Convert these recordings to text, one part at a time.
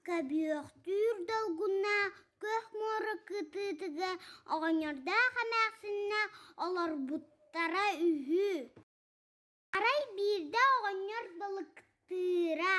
Көбүөхтүүр долгуна көөх муора кытыытыгар оҕонньордоох эмээхсиннэ олорбуттара үһү. Арай биирдэ оҕонньор балыктыыра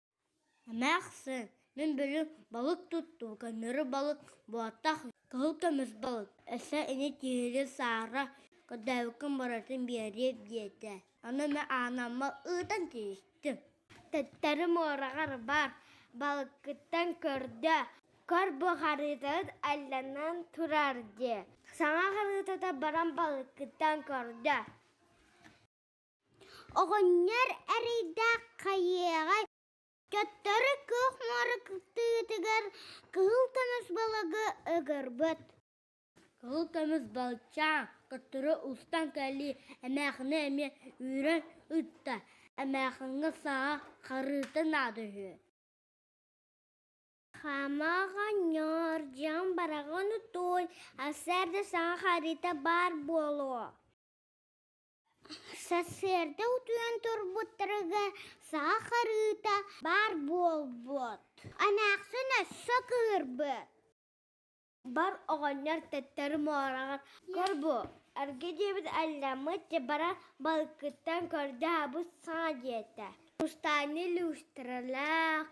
Эмээхсин, мин били балык туттум, көннөрү балык, буотах, кыһыл көмүс балык, өссө ини киһили саара көрдөөбүккүн барытын биэриэм диэтэ, аны мин аанаммар ыытан кииристим. Төттөрү муораҕар бар балыккыттан көрдө, көр бу харыытабыт алланан турар дии, саҥа харыытата баран балыккыттан көрдө Оҕонньор эрэйдээх хайыаҕай төттөрү күөх муора кыттыытыгар кыһыл көмүс балыгы өгөрбүт. Кыһыл көмүс балыччаан көттөрү устан кэлии эмээхини эмиэ үүрэн ыытта, эмээхиҥҥэ сааһа харыыта наада үһү. Хаама оҕонньор, дьиэҥ бараҕын утуй, ас эрдэ саҥа харыыта баар буолуо. Сарсыарда утуйан турбуттарыгар саха харыыта баар буолбут. Анаахсын өссө кыырбыт. Бар оҕонньор төттөрү муораҕар көр бу эргэ диэбит алламмыт бара балыккыттан көрдө абыс саҥа диэтэ. Кустаанньы люстралаах,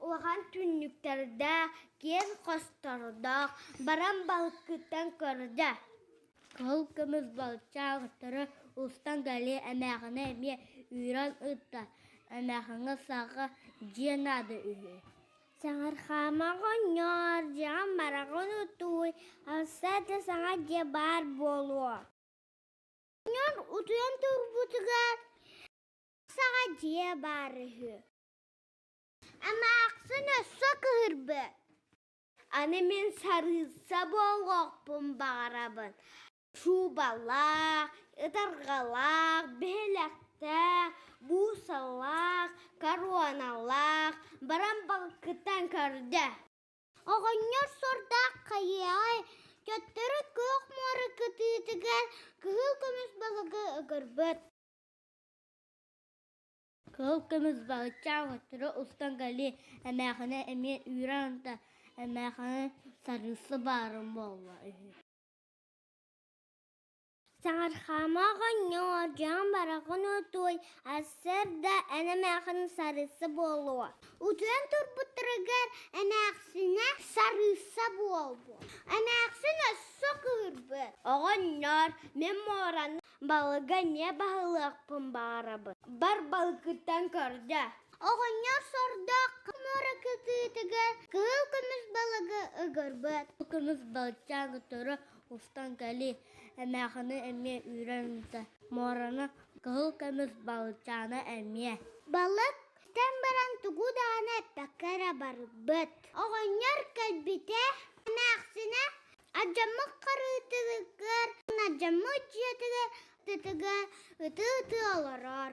улахан түннүктэрдээх, киэҥ хостордоох, баран балыккыттан көрдө. Кыһыл көмүс балчаак өтөрү устан Галия эмээхсини эмиэ үүрэн ыытта, эмээхсиҥҥэ саха дьиэ наада үһү Саҥархаамаҥ оонньоор, дьиэҕин бараҕын утуй, ыкса да саҥа дьиэ баар буолуо Оонньоор, утуйан турбутугар саҥа дьиэ баар үһү Эмээхсин өссө кыһырбыт Аны мин сарыысса буолуохпун баҕарабын. Шубалаах, ытарҕалаах, бэһэлэхтээх, буусалаах, короналаах, барамбалкыттан көрдө. Оҕонньор сордоох хайыаҕай, төттөрү күөх муора кытыытыгар кыһыл көмүс балыгы ыгырбыт. Кыһыл көмүс балычча оҕотторо устан кэлии эмээхинэ эмиэ үүрэн-уута эмээхинэ сарыысы баарын буолла үһү Саҥархаама оҕонньоор, дьон барахын утуй, сарсыарда эн эмээхин сарыысы буолуо. Утуйан турбуттарыгар эмээхсинэ сарыысса буолбут. Эмээхсин өссө кыырбыт. Оҕонньоор, мин муораны Балыга эмиэ баһылыахпын баарабын. Бар балыкыттан көрдө. Оҕонньор сордоох муора кытыытыгар кыыл көмүс балыгы ыгырбыт. Бу көмүс балыкчаан сотору устан кэлии эмээхини эмиэ үүрэн ыытар. Муораны кыыл көмүс балыкчаана эмиэ. Балык Көтөн баран тугу даҕаны эппэккэ эрэ барбыт. Оҕонньор кэлбитэ, эмээхсинэ адьаммыт харыытыгар, адьаммыт дьиэтигэр ытытыгар ытыы-ытыы олорор.